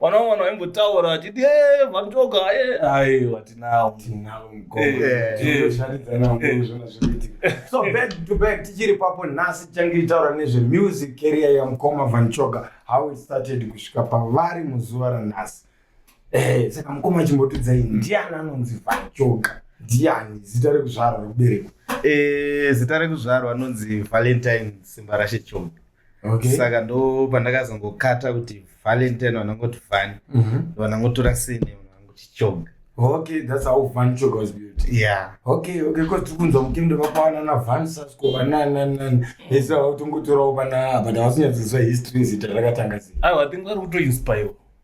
vana vana vaimbotaura vachiti eh, vandoga eh. aiwa tinawo so back to back tichiri papo nhasi tichange tichitaura nezvemusic career yamukoma vanchoga how it started kusvika pavari muzuva ranhasi eh, saka mukoma achimbotidzai ndiani anonzi vanchoga ndiani zita rekuzvarwa rekuberekwa zita rekuzvarwa anonzi valentine simbarashe choga okay. saka ndo pandakazongokata kuti valentine vanangoti vani mm -hmm. vanangotora sene vanangoti choga okay that's how van choga was built yeah okay okay because tiri kunzwa mukende vakwana na van sasko vanananani ese vava kutongotorawo vana but havasinyadziswa history zita rakatanga sei aiwa think vari kutoinspire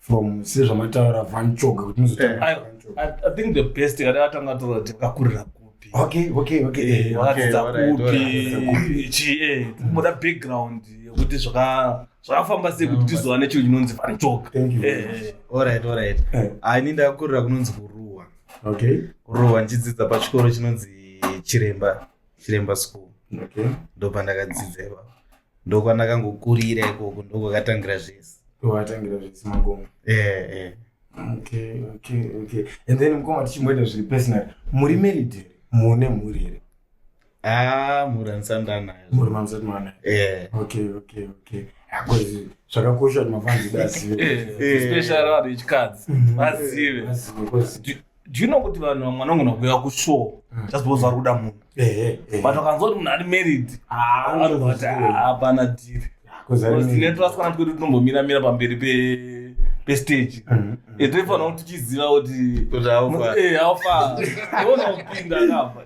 from sezvamataura van choga kuti muzotaura eh, i think the best kada vatanga tora kuti vakakurira kupi okay okay okay eh, eh, vakadzidza kupi chi eh tinoda background yekuti zvaka zvakafamba sei kuti tizowa nechinhu chinonzi van choga alright alright ah ini ndakakurira kunonzi kuruwa okay kuruwa ndichidzidza pachikoro chinonzi chiremba chiremba school okay ndopandakadzidza ipapo ndokwandakangokurira ikoko ndokwakatangira zvese kwakatangira zvese magoma eh eh okay okay okay and then mukoma tichimboita zviri personal muri married here mune mhuri here ah mhuri andisandanayo mhuri mandisandanayo eh okay okay okay akozi zvakakosha kuti mafanzi dazive eh, eh. especially vanhu vechikadzi mhm. vazive do you know kuti vanhu vamwe vanogona kuuya kushow mm. just because vari kuda munhu but wakanzwa kuti munhu ari married anovati hapana dhiri netwasikana twedu tinombomira mira pamberi pestage etoifanira mm, mm. kuti tichiziva kuti haufa iona kupinda akabva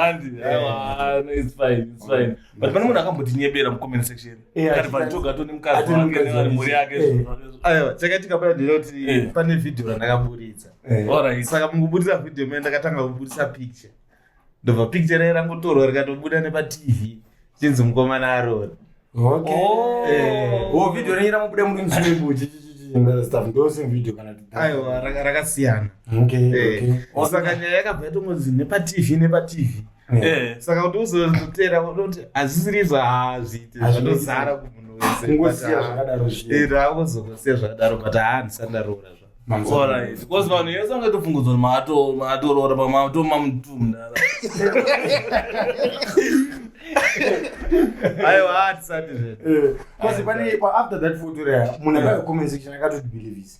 andi aiwa it's fine it's fine but pane munhu akambotinyebera mucomment section chakaitika paya ndinoti eh. pane vhidhiyo randakaburitsa eh. saka mukuburitsa vhidhiyo mene ndakatanga kuburitsa picture ndobva picture raye rangotorwa rikatobuda nepatv chinzi mukomana arori vhidhiyo renyu ramubuda muri mswimbuchi aiwa rakasiyana eh. saka nyaya yakabva yatongonzi nepatv nepatv Eh. Eh, saka kuti uzoteera unoti hazvisiri izvo hazviite zvanozara kumunhu wesengosiya zvakadaro zviaozongosiya zvakadaro but haa handisati ndaroora zvabecause vanhu yese angatofungudzwa maatoroora pamatomamutumdara aiwa hatisati zvedu eh, bcause pane after that foto rea munhu akacomensektion akatoti believise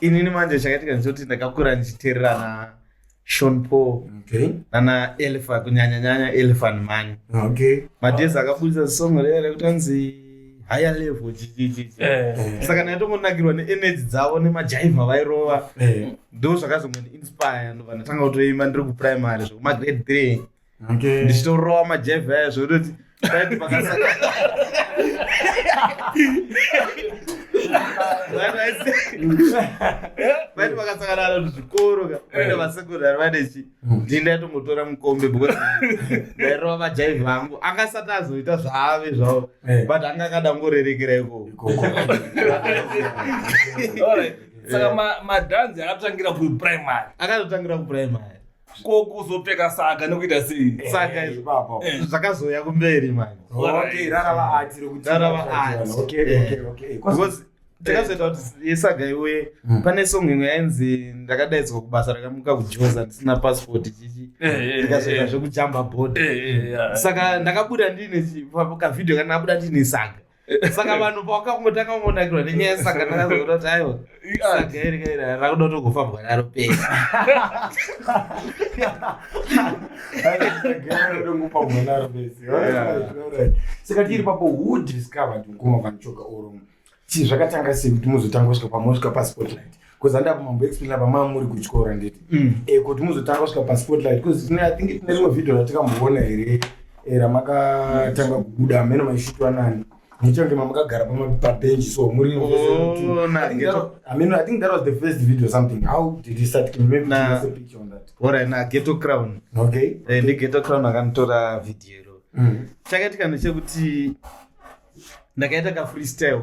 inini manje chakaitika ndichoti ndakakura ndichiteererana shon paul okay. nana elfa kunyanya nyanya elfan mani okay. madhezi akabudisa song ree rekuti anzi higher level chichichichi eh. eh. saka ndaitongonakirwa neenergy dzavo nemajaiva vairova eh. ndo zvakazongondiinspire ndobva ndatanga kutoimba ndiri kuprimary zvekumagrade three Okay. ndichitorova majevhi aya zvekutoti paiti pakasaka vaiti vakasangana na zvikoro ka uine vasekondari vanechi ndii ndaitongotora mukombe because ndairova vajaivhi vangu anga asati azoita zvaave zvavo Eh. but anga akadangorerekera ikoko Ikoko. Alright. saka ma- madhanzi akatangira kuprimary akatotangira kupuraimari ko kuzopfeka saga nekuita sei eh, saga izvi baba eh. zvakazouya kumberi mani okay rara vaati rekuti rara vaati okay eh. okay okay because takazoita kuti yesaga iwe hmm. pane song imwe yainzi ndakadaidzwa kubasa rakamuka kujoza ndisina passport chichi ndikazoita zvekujamba bod saka ndakabuda ndiine kavhideo kana ndabuda ndiine saga saka vanhu pawakangotanga kungonakirwa nenyaya yesangana razo kuda kuti aiwa saga iri kairi rakuda kutogofambwa naro pesa saka tiri papo who discovered mkoma vanochoka oro chii zvakatanga sei kuti muzotanga kusvika pamosvika paspotlight because handava mambo explaina pamava muri kutyora nditi mm. eh, kuti muzotanga kusvika paspotlight because i think tine rimwe vhidhio ratikamboona here eh, ramakatanga kubuda ameno maishitwa nani muchange mamakagara pabenji so muri oh, ameno i think that was the first video something how did you start can maybe na, a picture on that orit na ghetto crown okay eh, ndi ghetto crown akanditora vhidhio iro mm. chakaitika ndechekuti ndakaita kafreestyle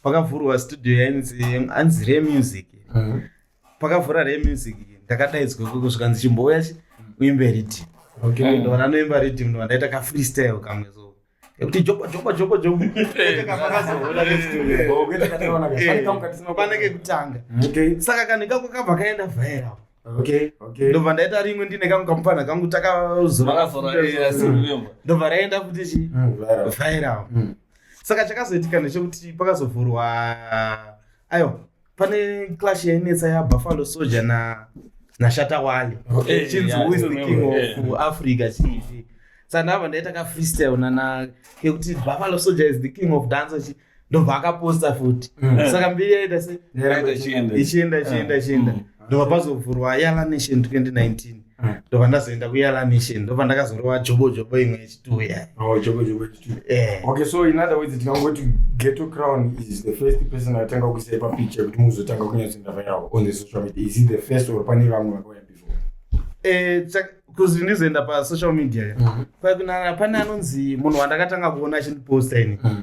pakavhurwa studio yainzi anzi re music mm. pakavhura re music ndakadaidzwa koko zvikanzi chimbouya chi uimbe riddim okay. ndo vanoimba riddim ndo vandaita ka freestyle kamwe so kuti joko joko joko joko pane kekutanga saka kanhu ikako kabva kaenda viral okay okay ndobva ndaita rimwe ndine kangu kamupfanha kangu takazorandobva raenda futi chi mm, viral mm. saka chakazoitika ndechekuti pakazovhurwa ayo pane clash yainetsa yabuffalo soldier na nashata wale eh, chinzi who is the king of eh. africa chii saka ndabva ndaita kafreestyle nana kekuti buffalo soldier is the king of dance ndobva akaposta futi mm. saka mbiri yaita se ichienda ichienda ichienda mm. ndobva pazovhurwa yala nation 2019 mm. ndobva ndazoenda kuyala nation ndobva ndakazorova jobo jobo imwe yechituwe yaoke oh, so in other words tikangoti geto crown is the first person atanga kuisai papicha kuti muzotanga kunyatsoenda vayao on the social media is it the first or pane vamwe vakauya before eh, kuzi ndizoenda pasocial media mm-hmm. pakunana pane anonzi munhu wandakatanga kuona achindiposta ini mm-hmm.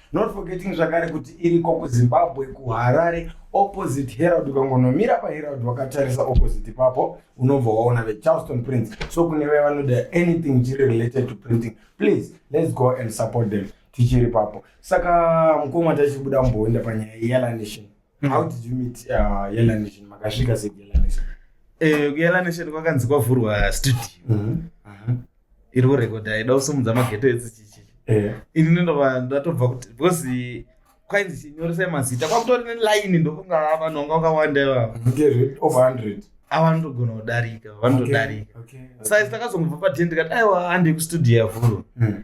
not forgetting zvakare kuti iriko kuzimbabwe kuharare opposite herald ukangonomira paherald wakatarisa opposite ipapo unobva waona vecharleston prince so kune vaye vanoda anything chiri related to printing please let's go and support them tichiri papo saka mukoma tachibuda mumboenda panyaya yelanation Mm. How did you meet uh, Yellow Nation? Makasvika sei Yellow Nation? Eh, kuyela nation kwakanzi kwavhurwa studio Mhm. Aha. iri kurekodha ida kusumudza mageto edzichichi Eh. inini ndova ndatobva kuti because kwainzi chinyoresai mazita kwakutori nelaini ndokunga ava vanhu vanga vakawanda ivava Ngezve over 100. ava vanotogona kudarika vanotodarika Okay. Okay. saizi takazongobva paten ndikati aiwa hande kustudio yavhurwa Mm.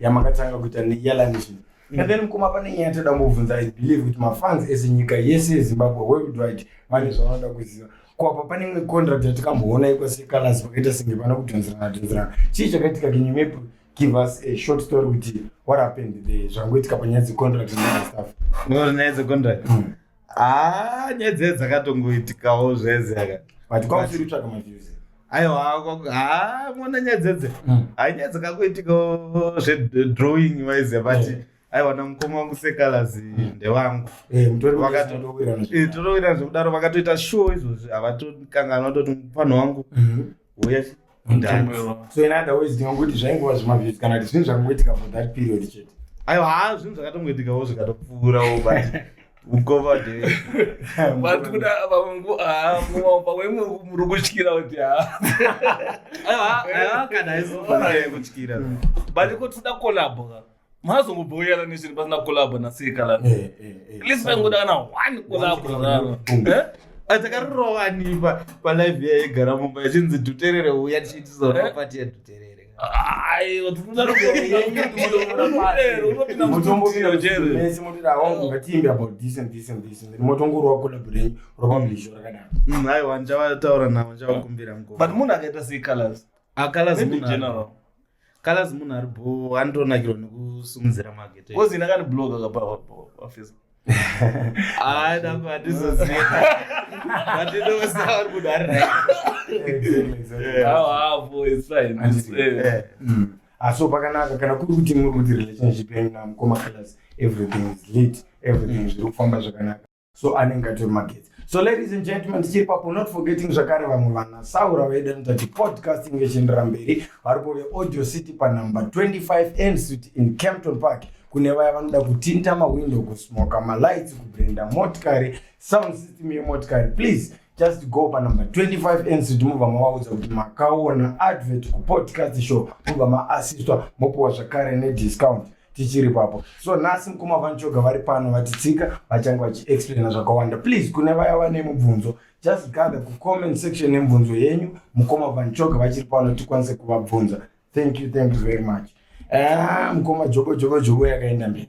yamakatanga kuita neyalanishn and then mukoma pane nyaya toda kuvhunza i believe kuti mafans ese nyika yese yezimbabwe worldwide vane zvavanoda kuziva ko apa pane imwe contract yatikamboona iko secolors vakaita senge vana kudhonzerana dhonzerana chii chakaitika can you maybe give us a short story kuti what happened there zvangoitika panyaya dzecontract nestuff nyaya dzecontract Ah, nyaya dzee dzakatongoitikawo zvese aka but kwausiri kutsvaga maviews aiwa haa mona nyaya dzedze hmm. hai nyaya dzakakuitikawo zvedrawing wise but yeah aiwa namukoma wangu sekalazi hmm. ndewangu eh, eh, totowirana zvekudaro vakatoita show izvozvi havatokanganwa toti mupano wangu mhm. Yes. So in other words, ndinongokuti zvaingova zvimavhesi kana kuti zvinhu zvakangoitika for that period chete. Aiwa, haa zvinhu zvakatongoitikawo zvikatopfuurawo but ukova de. But kuda vangu haa mwa pamwe muri kutyira kuti haa. Aiwa, aiwa kana izofana kutyira. But kuti da collab. mazongobhoyera neshiri pasina kolabho nasika la eh, eh, eh. list vaingoda kana one kolabho raro atakarirova ni palive iya yegara mumba ichinzi duterere uya tichiitizora pati yaduterere motongorwa kolabho renyu ropa mlisho rakadaro mm, aiwa ndichavataura navo ndichavakumbira mko but munhu akaita sei colors akalazimunhuakalazi ah, munhu ari bo anotonakirwa nekusimudzira magete kozi ina kani blog akapafisa hayi nako hatizoziva vatinosaari munhu ari aso pakanaka kana kuri kuti muri kuti relationship yenyu namukoma kalas everything is lit everything zviri kufamba zvakanaka so anenge atori magetsi so ladies and gentlemen tichiri papo not forgetting zvakare vamwe vana saura vedu anoita kuti podcasting vechiendera mberi varipo veaudio city panumber 25 n street in campton park kune vaya vanoda kutinta mawindow kusmoka malights kubrenda motikari sound system yemotikari please just go panumber 25 ncd mobva mavaudza kuti makaona advert kupodcast show mobva maassistwa mopiwa zvakare nediscount tichiri papo so nhasi mukoma vanchoga vari pano vatitsika vachange vachiexplaina zvakawanda please kune vaya vane mubvunzo just gather kucomment section nemubvunzo yenyu mukoma vanchoga vachiri pano tikwanise kuvabvunza thank you thank you very much ah, mukoma jobo jobo jobo yakaenda mberi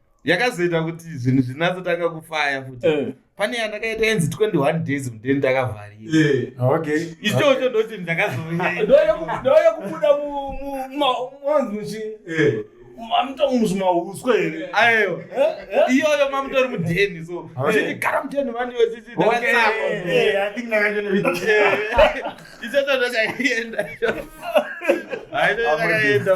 yakazoita kuti zvinhu zvinatsotanga kufaya futi eh. pane yandakaita yenzi 21 days mudeni ndakavharira eh. ichocho ndoti ndakazoyekubuda mamutomuzvimauswa here ayo iyoyo mamutori mudheni so chichigara mudheni mani wechichiichatoachaienda aitoakaenda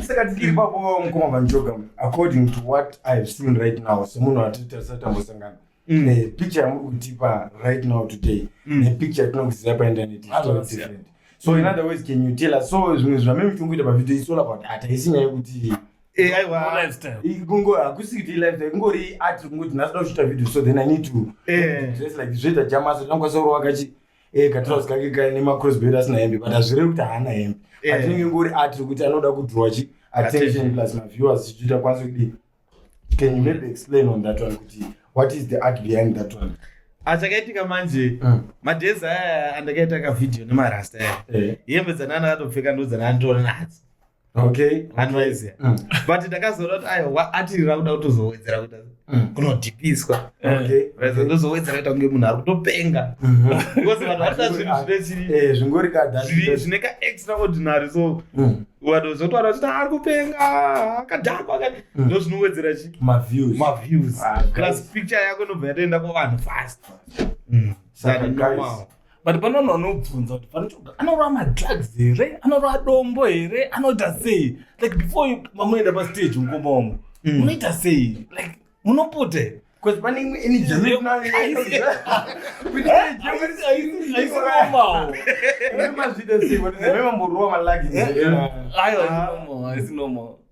saka tikiri papo mukoma vanjoga according to what i have seen right now semunhu atitarisa tambosangana mm. nepicture yamuri kutipa right now today mm. nepicture yatinongoziva painternet so in other words can you tell us so zvimwe zvameme tikungoita pavideo isola about hataisi nyaya yekuti Eh, zvoita jamaso tinokwanisa kurova kachi eh, katrous kake kaine macrosbed asina hembe but hazvirevi kuti haana hembe eh. but inenge ngori art kuti anoda kudrowa chi attention plus maviewers chichiita kwanisa kudii can you maybe explain on that one kuti what is the art behind that one achakaitika manje mm. madhezi aya andakaita kavhidhiyo nemarasta aya hembe dzanana akatopfeka ndodzananditora nadzo okay advise mm. but ndakazoona kuti aiwa atirira kuda kutozowedzera kuita mm. kunodhipiswa eh. okay vaiza ndozowedzera kuita kunge munhu ari kutopenga mm-hmm. because vanhu vatoda zvinhu zvine chiri eh, zvingori kadhazviri zvine ka extraordinary so mm. vanhu zvotoona kuti ari kupenga akadhakwa ka ndo zvinowedzera chi maviews maviews ah, plus picture yako inobva yatoenda kuvanhu fast saka guys but pane vanhu vanobvunza kuti vanochoga anorova madrugs here anorova dombo here anoita sei like before mamunoenda pastage mukoma wangu mm. munoita sei like munopute Because pane imwe energy aisinomamazvida sei vamamborova malagi aiwa aisinomao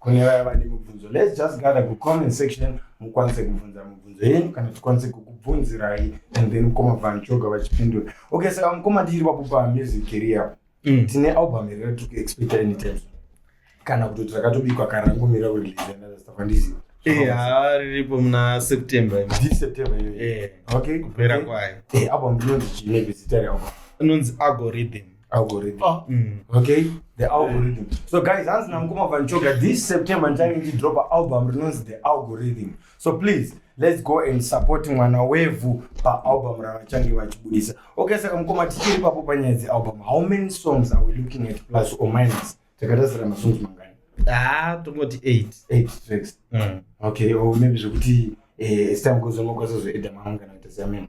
Kune vaya vane mubvunzo, let's just gather kucomment section mukwanise kubvunza mubvunzo yenyu kana tikwanise kukubvunzirai and then mukoma vanchoga vachipindura. Okay, saka mukoma tiri pakupa music career. Mm. Tine album here tiri kuexpecta anytime soon? Kana kutoti rakatobikwa kana rangomira kurelease another stuff handizivi. Eh, haa riripo muna September. imi. This September iyoyo. Eh, Okay, kupera okay. kwayo. Eh, album inonzi chii maybe zita realbum? Inonzi Algorithm. algorithm oh. mm. okay the algorithm so guys hanzi namukoma vanchoga this september ndichange ndidropa album rinonzi the algorithm so please let's go and support mwana wevhu paalbum ravachange vachibudisa okay saka mukoma tichiri papo panyaya dzealbum how many songs are we looking at plus or minus takatasira masongs mangani ah tongoti eight eight tracks mm. okay or maybe zvekuti eh, as time goes on mokwasazoeda mamwe kana kuita seamene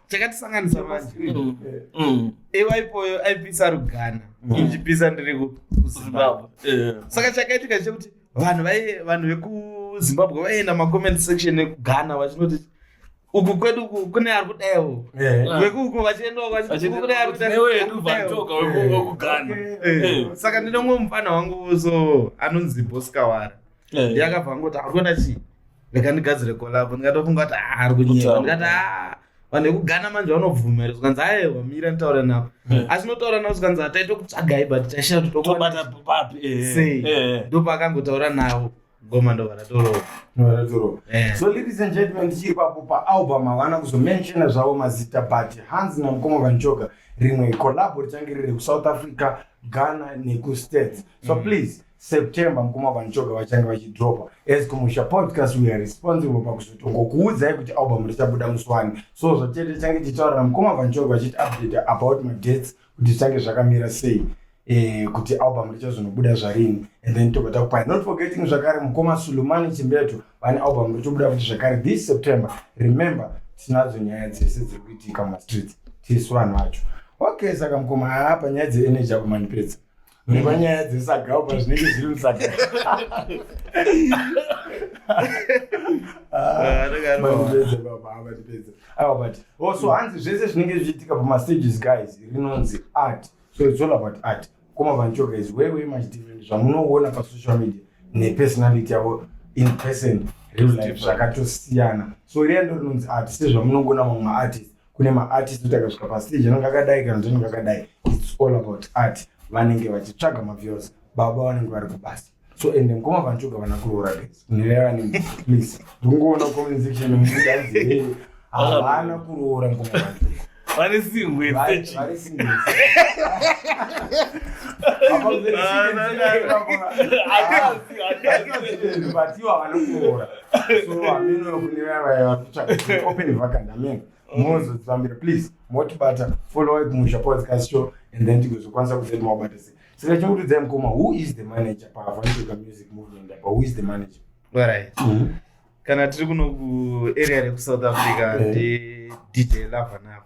chakatisanganisa manje mm. mm. iwa ipoyo aipisa rugana mm. ichipisa ndiri kuzimbabwe eh. saka chakaitika chekuti vanhu vai vanhu vekuzimbabwe vaienda macomment section ekugana vachinoti uku kwedu kune ari kudaiwo eh. vekuuku vachiendaoasaka ndinomwe mufana wangu so anonzi boskawara eh. ndiyakabva angoti ari kuenda chii rega ndigadzire kolabo ndikatofunga kuti ah, ari kunyeka ndikati a ah, vanhu vekugana manje vanobvuma here zvikanzi aewa mira nditaura navo eh. asi notaura navo zvikanzi hataito kutsvagai but taishaya kuti tobata papi eh. sei ndopakangotaura navo goma ndo varatorowa eh. so ladies and gentlemen ndichiri papo paalbum havana kuzomenshona zvavo mazita but hans namukoma vanchoga rimwe collabo richange riri kusouth africa ghana nekustates so mm. please September mkoma vanchoka vachange vachidropa as kumusha podcast we are responsible pakuzotongokuudzai kuti album richabuda musi wani so zvachete change tichitaurira mkoma vanchoka vachiti update about madates kuti zvichange zvakamira sei eh, kuti album richazonobuda zvarini and then tobva takupai not forgetting zvakare mkoma sulumani chimbeto vane album richobuda kuti zvakare this september remember tinadzo nyaya dzese dziri kuitika mumastreets tisu vanhu vacho okay saka mkoma haa panyaya dzeeneji apo mandipedza nemanyaya dzesagao pazvinenge zviri musagao so hanzi zvese zvinenge zvichiitika pamastages guys rinonzi art so it's all about art koma vancho guys way way much different zvamunoona pasocial media nepersonality yavo in person real life zvakatosiyana so riya ndo rinonzi art sezvamunongoona mamwe maartist kune maartist kuti akasvika pastage anenge akadai kana kuti anenge akadai its all about art vanenge vachitsvaga maviews baba vanenge vari kubasa so ende mukoma vanchoga vana kuroora guys nirevane please ndongoona comment section mudazi havana kuroora mukoma vanchoga vari singwe vatiwo havana kuroora so hameno kune vaya vakutsvaga open vacant hameno mozodzifambira please motibata follow kumusha podcast show and then tigozokwanisa kuzai mawabata sei saka chikurudzai mukoma who is the manager paavanotoka music movement apa who is the manager right mm -hmm. kana tiri kuno kuarea rekusouth africa ndi dj lava navo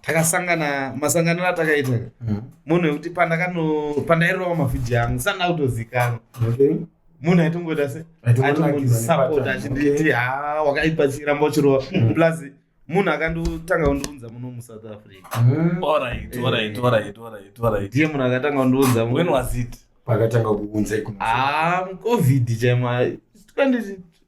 takasangana masanganiro atakaita mm. munhu wekuti pandairowa mavhidhiyo angu sandina kutozikanwa munhu aitongoita se aitongondisapota achinditi ha wakaipa chiramba uchirowa mm. plus munhu akandotanga kundiunza muno musouth africa mm. eh. ndiye munhu akatanga kundiunza pakatanga kuunza covid chaimo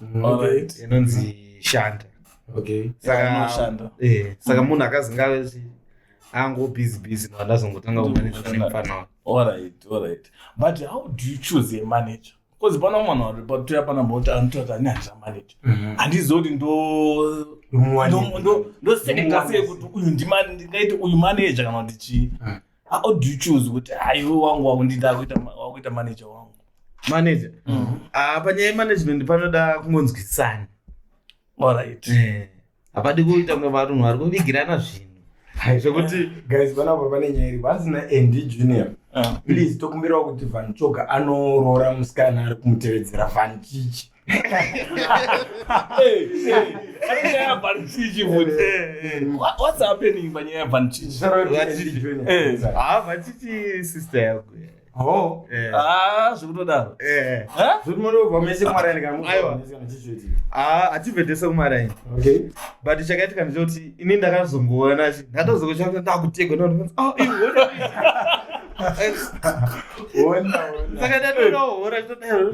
Mm, Alright. inonzi shanda Okay. Saka- Anoshanda. Eh, saka munhu akazinga ango busy busy no ndazongotanga kumanejana nemufana wake Alright, alright. But how do you choose a manager? Because pana mwana wari patuya pana mboti anotota ani handisa manager. Handizivi kuti ndo Ndomuwanira. ndo- ndo- ndoseneka sei kuti uyu ndima- ndingaite uyu manager kana kuti chii. how do you choose kuti aiwe wangu wakundida wakuita manager wangu manager mm. ah, panyaya yemanagement panoda kungonzwisisana orit eh, hapadi kuita kunge varunhu vari kuvigirana zvinhu zvekuti guys panapa pane nyaya iri vasina nd junior ah. please tokumbirawo kuti vanchoga anoroora musikana ari kumutevedzera vanchichi vachiti sister yako zvekutodaro hativetese kumaraini but chakaitika ndechekuti ini ndakazongoona ndatozokochaka ndakutegwa saka ndatoona hora chitodaro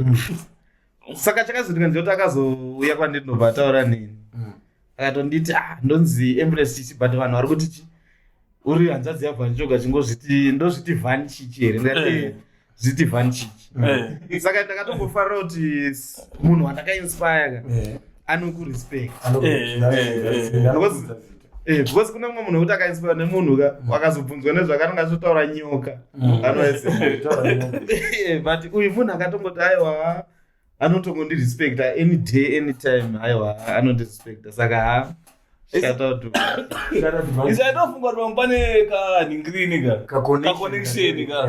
saka chakazoitika ndiyoti akazouya kwandiri ndobva ataura neni mm. akatonditi ah, ndonzi embrace chichi but vanhu vari kuti chi uri hanzvadzi yavhani choga chingozviti ndozviti vhani chichi here ndikati eh. eh, zviti vhani chichi eh. saka ndakatombofarira kuti munhu wandakainspire ka anokurespect Eh, because kune mumwe munhu wekuti akainspira nemunhu ka mm. wakazobvunzwa nezvakananga azotaura nyoka mm. anoise eh, but uyu munhu akatongoti aiwa anotongondirespecta any day any time aiwa anondirespecta saka ha ndinofunga kuti vamupane kanhingirini ka kaconnection ka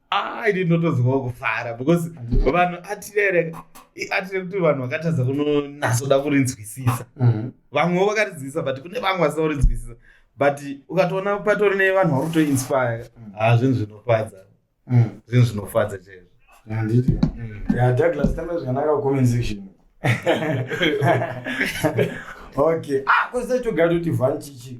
ah, ini ndotozwawo kufara because vanhu atirere atire kuti vanhu vakatadza kunonasoda kurinzwisisa mhm. vamwewo vakarinzwisisa but kune vamwe vasina kurinzwisisa but ukatoona patori nevanhu vari kutoinspire mm. ha ah, zvinhu zvinofadza mm. zvinhu zvinofadza chaizvo handiti mm. ya douglas tamba zvakanaka comment section okay ah kwese togara toti vanchichi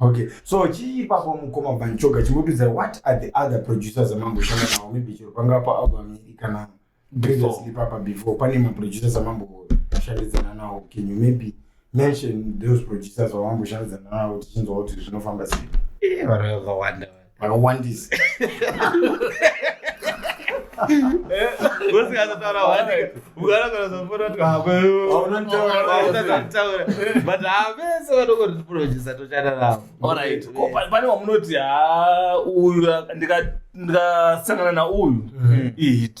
Okay. So chii ipapo mukoma Banchoga chimbotiudza what are the other producers amamboshanda nawo maybe chero pangava pa album iri kana previously papa before pane maproducers amamboshandidzana nawo can you maybe mention those producers vamamboshandidzana nawo tichinzwa kuti zvinofamba sei Eh, vanoyakawanda vanhu. vakawandisa but havese vanokotiprojisa tochata navo orit pane wamunoti ha uyu ndikasangana nauyu ihit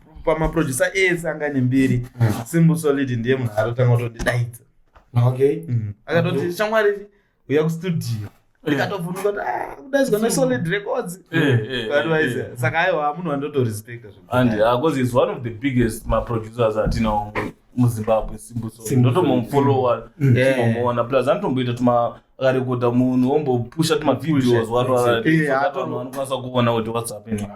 pamaproducer ese anga ane mbiri mm. simbu solid ndiye munhu arotanga kutondidaidza okay mm. akatoti shamwari uya kustudio ndikatovunuka kuti ah, kudaidzwa nesolid records eh, eh, advise eh, saka aiwa munhu andotorespecta zvandi because ah, is one of the biggest maproducers atinawo muzimbabwe simbuso ndotomomufolowa timomuona mm. plus anotomboita tuma akarekodha munhu ombopusha tumavideos watoavanhu vanokwanisa kuona kuti whats happening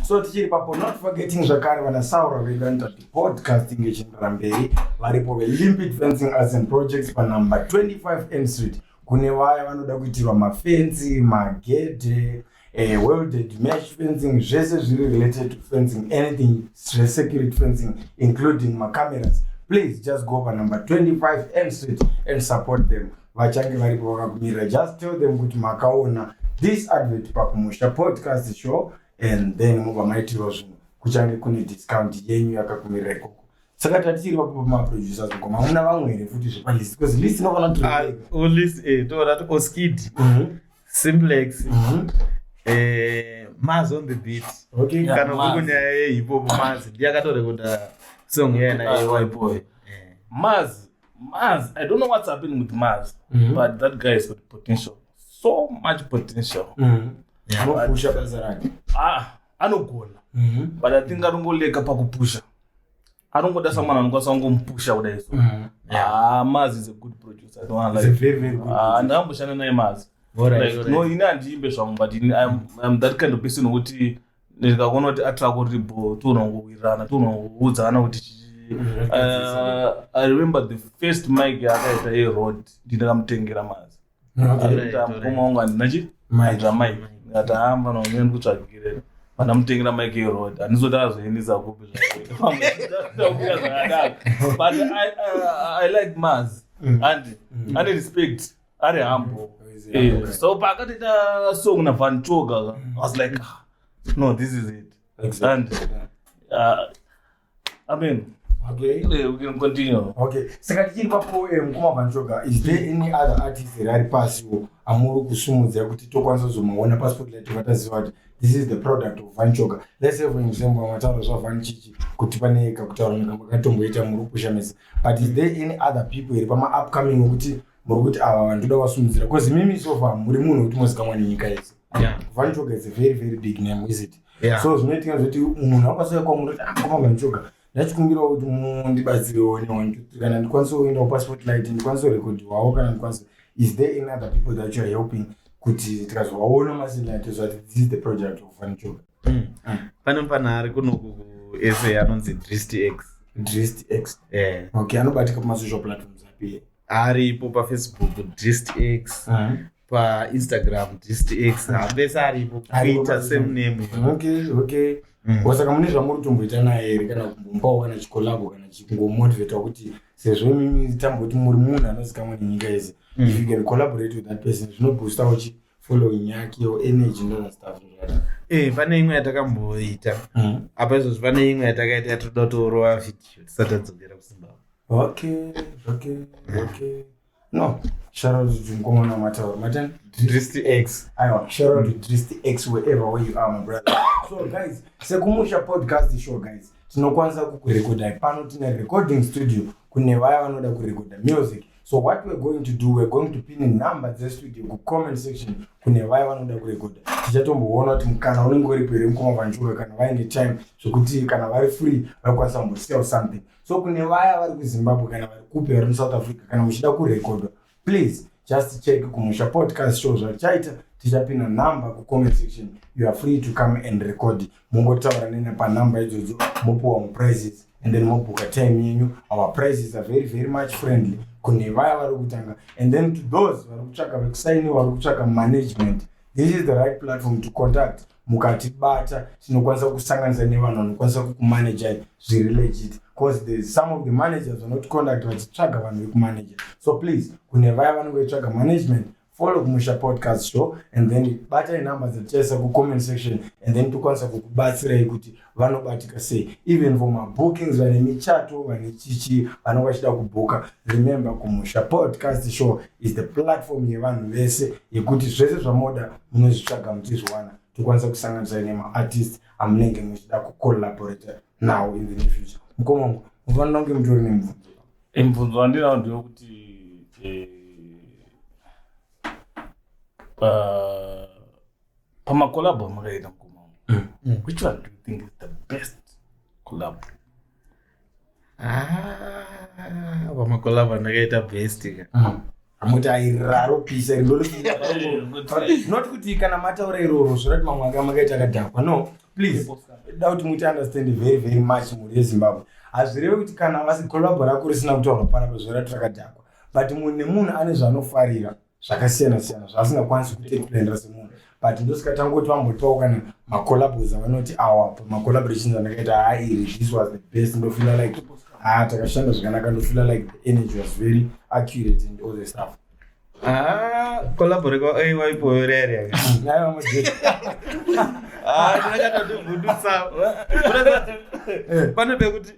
so tichiri papo not forgetting zvakare vana saura vedu vanoita kuti podcasting ichienderera mberi varipo velimpid fencing as in projects panumber 25 m street kune vaya vanoda kuitirwa mafenzi magedhe eh, welded mesh fencing zvese zviri related to fencing anything security fencing including macameras please just go pa number 25 m street and support them vachange varipo vakakumirira just tell them kuti makaona this advert pakumusha podcast show and then mobva maitirwa zvinhu kuchange kune discount yenyu yakakumirira ikoko saka tatiri vapo pamaproducers ko mamuna vamwe here futi zvepalis because list inofanira kuti ah, oh, list eh, toda kuti oskid mhm. simplex Mhm. eh, maz on the beat Okay. Yeah, kana Maz. kuri nyaya yehipopo maz ndiye akatorekoda song yena Ah, yewaiboy Maz, Maz, I don't know what's happening with Maz, Mhm. but that guy has got potential. So much potential. Mhm. Yeah. Anopusha basa rake. Ah, anogona. Mhm. But I think anongoleka pakupusha. anongoda someone anokwanisa kungomupusha kudai so Mm. ah mazi is a good producer i don't wanna He's a lie very, very good ah producer. ndakamboshanda naye mazi Alright, Like, alright. no ini handiimbe zvangu but ini I'm, I'm that kind of person wekuti ndikakuona kuti atrako riri bho tionongowirirana tionongoudzana kuti chi- Uh, I remember the first mic yakaita yeroad ndikamutengera mazi atahamba naumene kutsvagire vanamutengera mike erod handizoti azoendisa kupi but i like mars mm. and mm. ane respect ari humble eh, so paakatoita song navan choga was like ah, no this is it and uh, Amen. Okay. Yeah, we can continue. Okay. Saka tichiri papo eh, mukoma Vanchoga, is there hmm. any other artist here ari pasi wo amuri kusimudza kuti tokwanisa kuzomaona passport light vataziva kuti this is the product of Vanchoga. Let's say for example matauro zva Vanchichi kuti pane kakutaura nekamba katomboita muri kupushamisa. But is there any other people here pama upcoming okuti muri kuti ava vanhu toda vasimudzira? Because mimi so far muri munhu wekuti mozikamwa nenyika yese. Yeah. Vanchoga is a very very big name, is it? yeah. so zvinoitika zvekuti munhu anokwanisa kwamuri kuti akomama ah, njoga ndachikumbirawo kuti mundibatsirewo newantuthree kana ndikwanise kuendawo passport light ndikwanise kurekodhiwawo kana ndikwanise is there any other people that you are helping kuti tikazovaona masinate zvati this is the project of vanjoga hmm. hmm. pane panhari kunoku kusa anonzi drist x drist x eh. okay anobatika pamasocial platforms api aripo pafacebook drist x hmm. painstagram distx hapese aripo kuita same name okay okay mm. wasaka mune zvamuri kutomboita naye here kana kumbomupawo kana chikolabo kana chingomotivetwa kuti sezvo imimi tamboti muri munhu anozikamwa nenyika yese mm. if you can collaborate with that person zvinoboostawo chi following yake or energy ndona stuff zvakadaro Eh, pane imwe yatakamboita mm. apa izvozvi pane imwe yatakaita yatoda kutoorova video tisati tadzokera kuzimbabwe okay okay okay No. Shout out to Mkomana Mataura. Matan? Drist X. Aiwa, shout out to Drist X wherever where you are, my brother. so guys, sekumusha podcast show guys. Tinokwanisa kukurekoda pano tine recording studio kune vaya vanoda kurekoda music. So what we're going to do, we're going to pin in number the studio ku comment section kune vaya vanoda kurekoda. Tichatomboona kuti kana unenge uri pere mkoma vanjura kana vaine time zvekuti kana vari free vakwanisa kumbosiyawo something. so kune vaya vari kuzimbabwe kana vari kupi vari musouth africa kana muchida kurekodwa please just check kumusha podcast show zvatichaita tichapinda number kucomment section you are free to come and record mongotaura nene panumber idzodzo mopiwa muprizes and then mobhuka time yenyu our prizes are very very much friendly kune vaya vari kutanga and then to those vari kutsvaka vekusainiwa vari kutsvaka management this is the right platform to contact mukatibata tinokwanisa kusanganisa nevanhu vanokwanisa kukumanajai zviri legit bcause the some of the managers vanoticonduct vachitsvaga vanhu vekumanaja so please kune vaya vanenge vechitsvaga management follow kumusha podcast show and then batai number dzatichaisa kucomment section and then tokwanisa kukubatsirai kuti vanobatika sei even for mabookings vane michato vane chichi vanenge vachida kubhuka remember kumusha podcast show is the platform yevanhu vese yekuti zvese zvamoda munozvitsvaga muchizviwana tokwanisa kusanganisira nemaartist amunenge muchida kucollaborate now in the near future mukoma mufanira kunge mutori nemubvunzo mubvunzo wandinawo ndewekuti eh, uh, pamakolabho amakaita mukoma mm. mm. which one do you think is the best collab ah, pamakolabho andakaita best ka mm. amuti airaro pisa not kuti kana mataura iroro zvorati mamwe anga makaita akadhakwa no please da kuti muti understand very very much mhuri yezimbabwe hazvireve kuti kana vasikolabho rako risina kutaurwa panapa zvorati rakadhakwa but munhu nemunhu ane zvaanofarira zvakasiyana siyana zvaasingakwanisi kuexplainira semunhu but ndosika tangoti vambotiwawo kana macollabos avanoti awa pamacollaborations andakaita haa iri this was the best ndofila like haa takashanda zvakanaka ndofila like the energy was very accurate and all the stuff kolabore kwa ai waipoyo rere ndakatodivhundutsa pane pekuti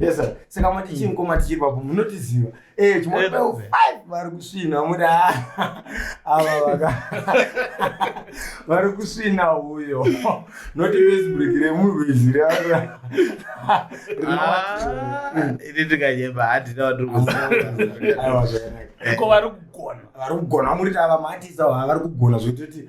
Yes sir. Saka mati mm. chinko mati chiri papo munotiziva. Eh chimwe pa 5 vari kusvina muda. Ava vaka. Vari kusvina huyo. Not this break re munhu izira. Ah, ini tikanyeba hadi na watu kusina. Ayo zvakanaka. Ko vari kugona. Vari kugona muri tava mati sawa vari kugona zvekuti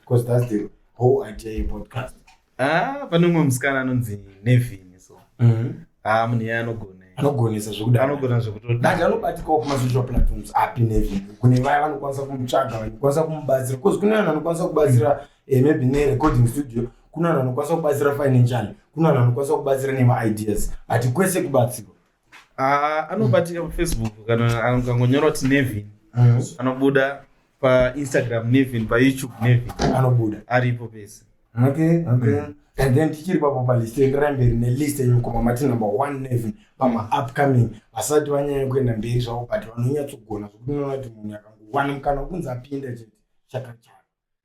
because that's the whole idea yepodcast ah pane umwe musikana anonzi nevin so mm-hmm. ah munhu iye anogona anogonesa zvekudaanogona zvekutodati anobatikawo kumasocial platforms api nevin kune vaya vanokwanisa kumutsvaga vanokwanisa kumubatsira because kune vanhu anokwanisa kubatsira eh, maybe nerecording studio kune vanhu anokwanisa kubatsira financially kune vanhu anokwanisa kubatsira nemaideas but kwese kubatsirwa Ah, anobatika pafacebook kana angangonyora kuti nevin mm. anobuda painstagram nevin payoutube nevin anobuda aripo pese okay, okay. Mm. and then tichiri papo palist endirai mberi nelist yemukoma mati number one nevin pamaupcoming vasati vanyanya kuenda mberi zvavo but vanonyatsogona zvokuti unoona kuti munhu akangowana mukana wekunzi apinda chete chakachaka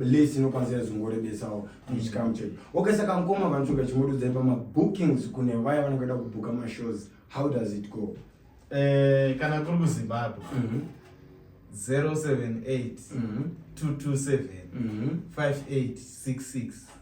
list inokwanisa yazongorebesawo muchikamu chedu okay saka mkoma vanotsvuka chimuridzai pamabookings kune vaya vanenge vada kubhuka mashows how does it go eh, kana kuri kuzimbabwe mm -hmm. 078 mm -hmm. 227 mm -hmm. 5866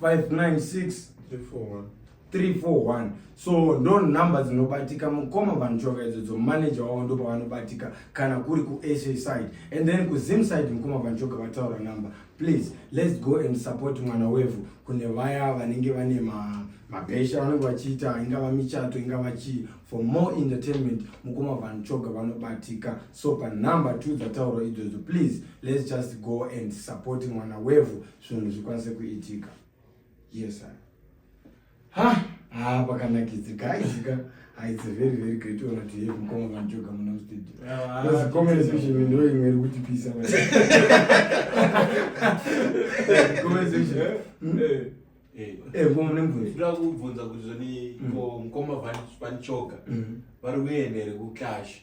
596 341 so ndo number dzinobatika mukoma vanhu choka idzo dzo manager wavo ndo pavanobatika kana kuri kusa side and then kuzim side mukoma vanhu choka vataura number please let's go and support mwana wevhu kune vaya vanenge vane ma mabhesha vanenge vachiita ingava michato ingava chii for more entertainment mukoma vanhu choga vanobatika so panumber two dzataurwa idzodzo please let's just go and support mwana wevhu zvinhu zvikwanise kuitika yes sir ha ha pakanakidze guys ka ha it's a very very great honor to have mkoma vanjoga muna mstudio because ah, comment section ndo imwe iri kuti pisa comment section eh, hmm? eh. Eh, eh, ndoda kubvunza kuti zvoni mm. mukoma vanichoga mm. vari kuenda here kuclash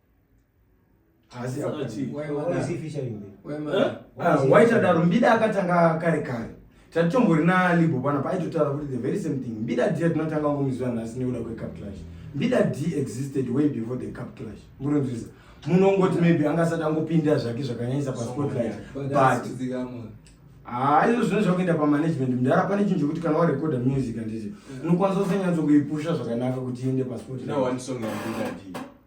waitadaro mbida akatanga kare kare tatichombori nalibo pana paaitotaura kuti the very same thing mbida dia tinotanga ngomuziva nhasi nekuda kwecup clash mbida d existed way before the cup clash muronzwisa munongoti maybe anga asati angopinda zvake zvakanyanyisa paspotlight but haa izvo zvine zvakuenda pamanagement mdara pane chinhu chokuti kana warecorda music anditi unokwanisa kusanyatso kuipusha zvakanaka kuti iende paspotlight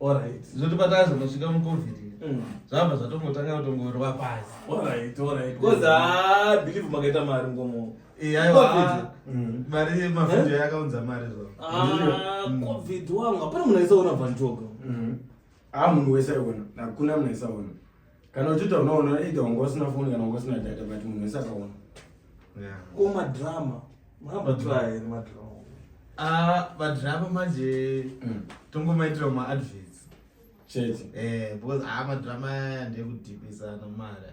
Alright. Zvoti patazo kusvika mu covid. Mm. Zvabva zvatongotanga kutongorwa pasi. Alright, alright. Because ah believe makaita mari ngomo. Eh aiwa. Mm. Mari yemafuta eh? yakaunza mari zvo. Ah mm. covid wangu. Hapana munhu aisaona vantoga. Mm. Ah munhu wese aiona. Hakuna munhu aisaona. kana uchiita unoona either wanga usina foni kana wanga usina data but munhu wese akaona ko madrama mabatwaye madrama ah, madrama manje mm. tongomaitira maadvets chete eh, because aa ah, madrama ndekudhipisa nomara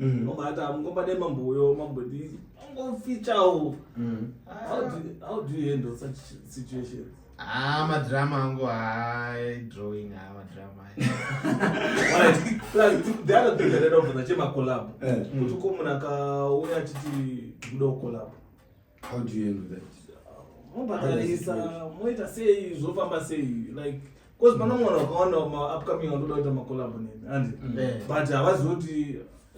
mm. mama ati amungomba ne mambo uyo mambo ndi ungofichawo mm. how do how do you handle such situations Ah, madrama angu hai drawing ha ah, madrama the other thing that I know for the chema collab eh. kuti ko munhu akauya achiti kuda kucollab How do you handle that? mobhadharisa moita sei zvofamba sei like bcause pana mwana wakawanda maupcoming anotoda kuita macolabo nemi andi mm. eh. but havazivi kuti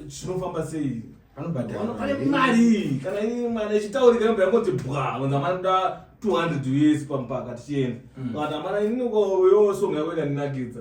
chinofamba sei pane mari kana ini mwana ichitaurika yomba yangoti bwa kunza manoda 200 us pampaka tichienda mm. but amana ini uko yosonga yako ikandinakidza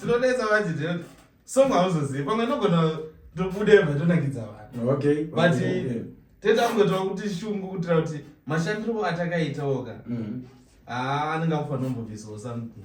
tinonetsa vachiti song hauzozivi pamwe nogona tobude vatonakidza vanhu okay but teta kungotova kuti shungu kutira kuti mashandiro atakaitaoka mm-hmm. haa anenge akufanira kumbobvisawo something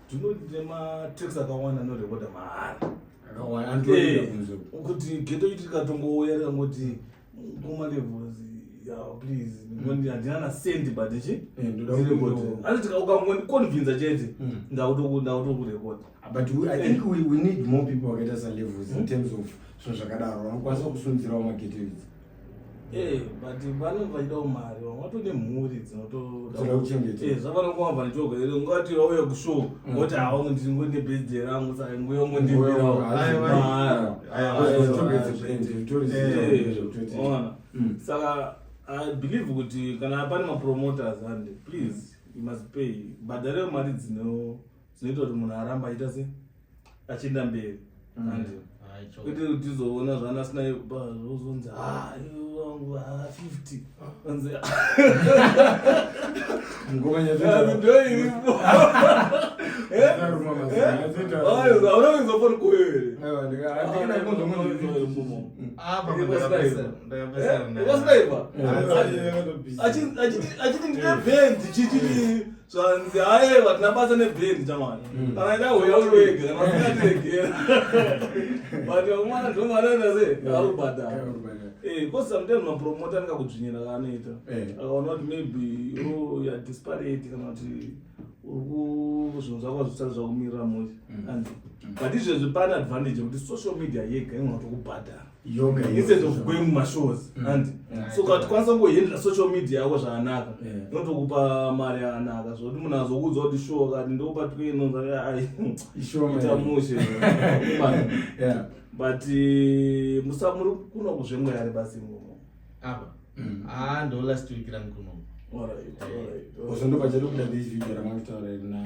tinematex akawanda anorekoda mahara kuti geto iti tikatongouya tikangoti kuma levels please mm. handina na sendi but chi eh, asi ukangondiconvinza chete mm. ndakutokurekoda ah, but i think we need more people vakaita salevels in mm. terms of zvinhu zvakadaro vanokwanisa kusunzirawo mageto idzi Eh, but vanenge vachidawo mari vamwe vato nemhuri dzinotodakuchengetezvavanongoa eh, vanichoga ere ungati vauya kushow mm. woti hawangu ndiri ngo nebirthday rangu saka nguya ngo ndibiraoona mm. saka i believe kuti kana pane mapromoters ande please you must pay bhadharewo mari dzino zvinoita kuti munhu aramba achiita se achienda mberi mm. and kwete kuti uzoona zvana asina zvozonzi ah, wangu ah, fifty anzi achiti ndine bhendi chichii zvanzi haye vatina basa nebhendi chamani mm. kana ida huya uwega kana usingatiregera but vakumana ndomanaita se mm. arubhadhara eh, bcause sometimes mapromota anenge akudzvinyira kaanoita eh. akaona kuti maybe uya disparate kana kuti uri zvinhu zvako zvisati zvakumirira mosi mm. but izvezvi pane advantage yekuti social media yega inonatokubhadhara instead of going mumashows mm. andi so katikwanisa kungohendera social media yako zvakanaka inotokupa mari yakanaka zvokuti munhu azokuudza kuti show kati ndokupa twenonzaita mushe but eh, musa muri kuno kuzvemweyari basi ngomo apa mm. haa ah, ndo last week rangu kuno ozondopachadokuda this video ramangitaura rinaa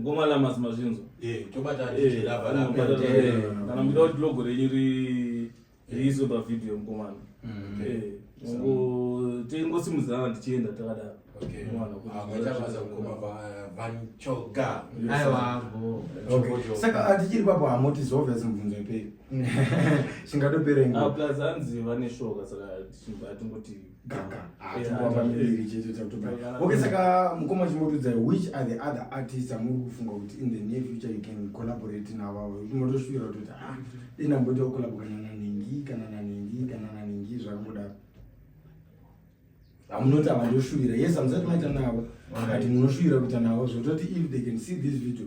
ngoma la mazima zvinzo eh tobata eh, lava la kana mira kuti logo renyu ri riiswe pa video mkomana mm. eh ngo tengo simuzana tichienda takadaro okay mwana kuti akaita ah, basa ngoma va van choga aiwa bo saka atichiri papo hamoti zove zimbunzo ipei chingatopere ngo ah plus anzi vane shoka saka chimba tingoti ganga hatiramba ah, miviri chete takutobaya okay saka mukoma chimotudza which are the other artists amuri kufunga kuti in the near future you can collaborate navavo motoshuwira kutoti a ah, denamboita kukolabo kana nanhingi kana nanhingi kana nanhingi zvakangodaro hamunoti ava ndoshuvira yes amusati maita navo but munoshuwira kuita navo zvototi if they can see this video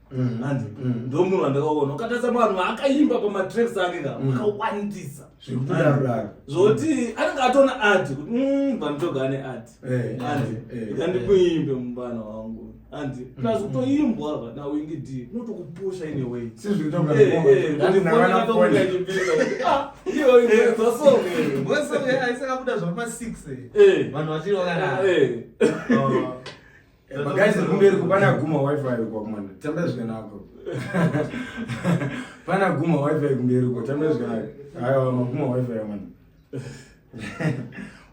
Mm, hanzi mm, ndomunhu wandakaona ukatasa vanhu vaakaimba pamatracks ake ka mm. akawandisa zvoti anenge atona art kuti vanotoga ane art hanzi eh, eh, ikandimuimbe eh. mubana wangu hanzi plus kutoimbwa ava nawingi d unotokupusha ine way zvasongeaisakabuda zvapama six vanhu vachiri vakana Eh, guys kumberi kupana guma wifi kwa mwana tamba zvikanako pana guma wifi kumberi kwa tamba zvikanako ayo maguma wifi ya mwana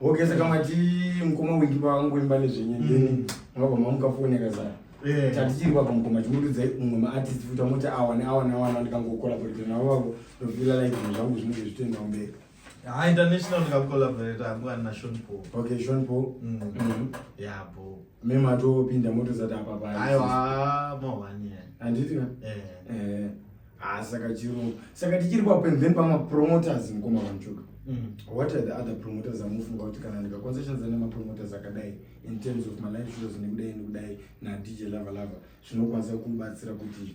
okay saka mati mkoma wingi pa wangu imba ne zvinyi ndini ngaba mamu ka phone ka zaa eh. tatichiri kwa mkoma chimudu dzai umwe ma artist futa mota awa ne awa ne awa na ndikango kola kuti na wako to feel like zvinhu zvangu zvinenge zvitenda umberi Ah, international ndikacollaborate hangu ani naSean Paul. Okay, Sean Paul. Mm. Mhm. Yeah, bro. Mema atopinda moto zati apa pa. Aiwa, more one year. Handiti ka? Eh. Eh. Ah, saka chirungu. Saka tichiri pa pen then pama promoters mkoma vanchuka. Mm. What are the other promoters amufunga kuti kana ndika concessions ane ma promoters akadai in terms of my life shows nekudai nekudai na DJ Lava Lava zvinokwanisa kubatsira kuti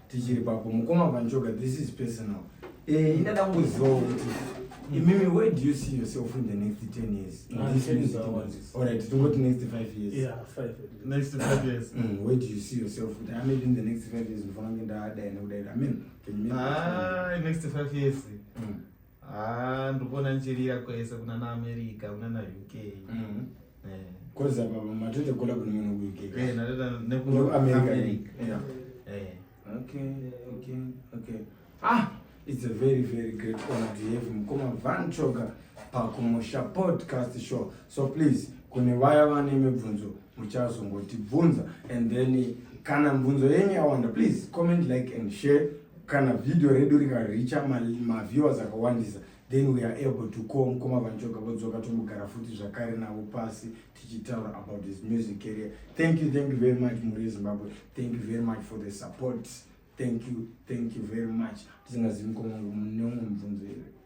tichiri papo mukoma vanjoga this is personal eh ndada kuziva kuti imimi where do you see yourself in the next 10 years in ah, this music all right tingoti next 5 years yeah 5 next 5 years mm, where do you see yourself kuti i mean in the next 5 years ndofana ngenda ada ene kudai i mean can you ah next 5 years mm. Ah, ndikuona ndichirira kwese kuna na America kuna na UK. Mm. Eh. Koza baba matoita kola kuna mwana ku UK. Eh, natoita ne ku America. Yeah. Eh. Okay, okay, okay. Ah, it's a very very great honor to have mkoma Van Choga pa Kumosha podcast show. So please, kune vaya vane mibvunzo muchazongotibvunza and then kana mibvunzo yenyu yawanda please comment like and share kana video redu rikaricha maviewers ma akawandisa then we are able to call mukoma vanjoga vodzoka tombogara futi zvakare navo pasi tichitaura about his music career thank you thank you very much muri yezimbabwe thank you very much for the support thank you thank you very much tisingazivi mukoma wangu mune umwe mubvunzo here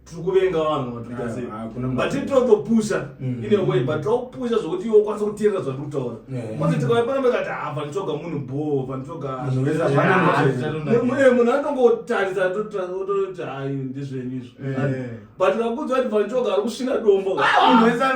tiri kuvenga vanhu vatuita ah, sei ah, but tinotopusa mm. ine way but takupusa zvokuti iwe ukwanisa kuteerera zvatiri kutaura kwanzi tikauya pano mekati ha panitsvoga munhu bho panitsvoga munhu anongotarisa toti hayi ndizvenyu izvo but kakudzwa kuti panitsvoga ari kusvina dombo panitsvoga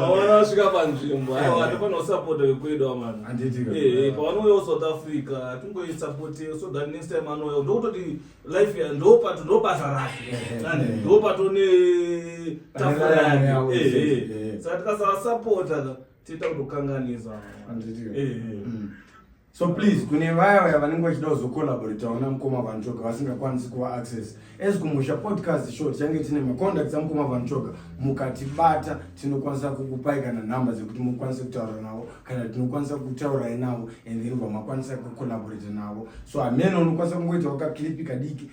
pavana vasvika panzvimbo aiwa hatifanira kusapota vekwedu amana pavanouya kusouth africa hatingoisapoti so that next time anouya ndokutoti life ya ndopato ndobasa rake ndopato netafura yake saka tikasavasapota tiita kutokanganisa so please kune vaya vaya vanenge vachida kuzokolaboritawo namukoma vanchoga vasingakwanisi kuva access as kumusha podcast show tichange tine macontacts amukoma vanchoga mukatibata tinokwanisa kukupai kana nhamba dzekuti mukwanise kutaura navo kana tinokwanisa kutaurai navo and then vamakwanisa kukolaborita navo so hameno unokwanisa kungoita wakaklipi kadiki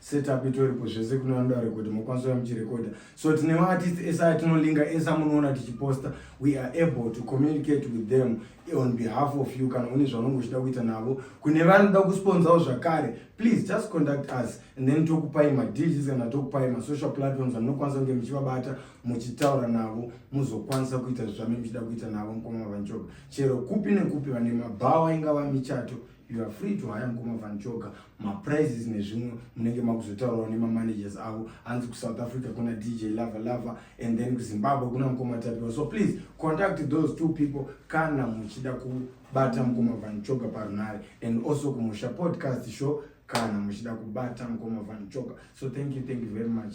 setup itoripo zvese kune vanoda rekodha mokwanisa muchirekodha so tine maartist ese atinolinga ese amunoona tichiposta we are able to communicate with them on behalf of you kana une zvaunenge uchida kuita navo kune vanoda kusponsawo zvakare please just conduct us and then tokupai madeals kana tokupai masocial platforms amunokwanisa kunge muchivabata muchitaura navo muzokwanisa kuita zvamene muchida kuita navo mukoma vanjoga chero kupi nekupi vane mabhawa ingava michato you are free to hire mukoma van choga maprices nezvimwe munenge makuzotaurawo nemamanagers avo hanzi kusouth africa kuna dj lava lava and then kuzimbabwe kuna mukoma tapiwa so please contact those two people kana muchida kubata mukoma van choga parunhare and also kumusha podcast show kana muchida kubata mukoma van choga so thank you thank you very much